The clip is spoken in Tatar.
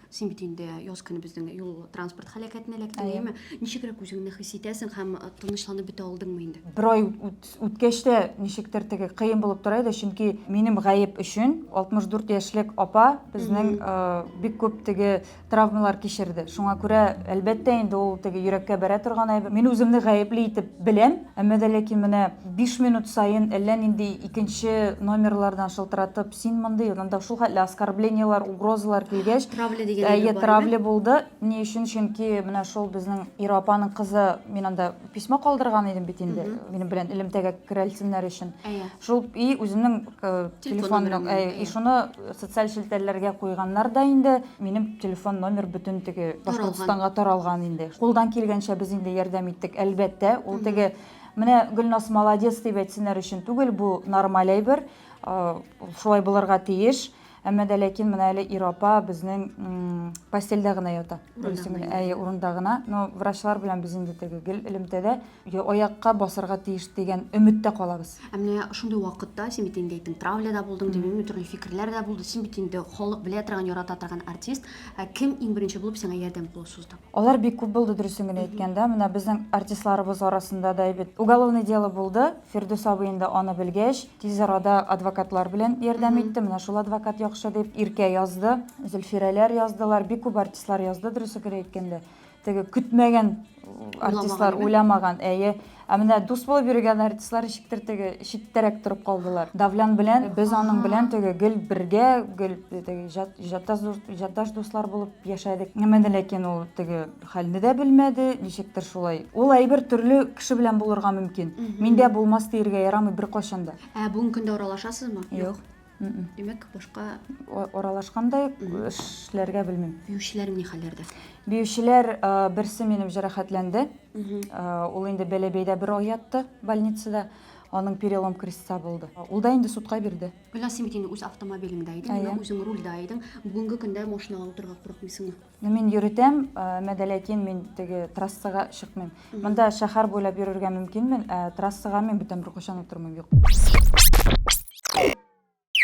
Син бит инде яз көне безнең юл транспорт һәлакәтенә эләктең, әйеме? Ничегрәк үзеңне хис итәсең һәм э, тынычланып бетә алдыңмы инде? Бер ай үткәч тә ничектер теге кыен булып тора иде, чөнки минем гаеп өчен 64 яшьлек апа безнең э, бик күп теге травмалар кичерде. Шуңа күрә, әлбәттә, инде ул теге йөрәккә бәрә торган әйбер. Мин үземне гаепли итеп беләм, әмма дә ләкин менә 5 минут саен әллә нинди икенче номерлардан шылтыратып Син мондый, анда шул хәтле оскорблениеләр, угрозалар килгәч, травля дигән әйе, травля булды. Ни өчен? Чөнки менә шул безнең Ира апаның кызы, мин анда письмо калдырган идем бит инде, минем белән элемтәгә керәлсеннәр өчен. Шул и үзенең э, телефон э, и шуны социаль челтәрләргә куйганнар да инде. Минем телефон номер бөтен теге Башкортстанга таралган инде. Кулдан килгәнчә без инде ярдәм иттек, әлбәттә. Ул теге Менә Гөлнас молодец дип әйтсеннәр өчен түгел, бу нормаль әйбер. Шулай булырга тиеш. Әмма дә ләкин менә әле ир апа безнең постельдә генә ята. Әйе, урында гына. Но врачлар белән без инде теге гел элемтәдә аякка басарга тиеш дигән өметтә калабыз. Ә менә шундый вакытта син бит инде әйттең, травлядә булдың, димени төрле фикерләр дә булды. Син бит инде халык белә торган, ярата торган артист. Ә кем иң беренче булып сиңа ярдәм кулы сузды? Алар бик күп булды, дөресен генә әйткәндә. Менә безнең артистларыбыз арасында да әйбәт уголовное дело булды. Фирдүс абый инде аны белгәч, тиз арада адвокатлар белән ярдәм итте. Менә шул адвокат яхшы дип, Иркә язды, Зөлфирәләр яздылар, бик күп артистлар язды, дөресе генә әйткәндә. Теге көтмәгән артистлар, уйламаган, әйе. Ә менә дус булып йөргән артистлар ничектер теге читтәрәк торып калдылар. Давлян белән без аның белән теге гел бергә, гел теге җатдаш дуслар булып яшәдек. Әмма ләкин ул теге Хәлне дә белмәде, ничектер шулай. Ул әйбер төрле кеше белән булырга мөмкин. Миндә булмас диергә ярамый беркайчан да. Ә бүгенге көндә аралашасызмы? Юк. Димәк, башка Аралашкан да юк, эшләргә белмим. биючеләр ни хәлләрдә? Биючеләр э, берсе минем җәрәхәтләнде. Э, Ул инде Бәләбәйдә бер ай ятты больницада. Аның перелом креста булды. Ул да инде судка бирде. Гөлназ, син бит инде үз автомобилеңдә идең, Әйе. менә үзең рульдә идең. Бүгенге көндә машинага утырырга курыкмыйсыңмы? Ну мин йөртәм, мәдә ләкин мин теге трассага чыкмыйм. Монда шәһәр буйлап йөрергә мөмкинмен, ә трассага мин бүтән бер качан утырмыйм, юк.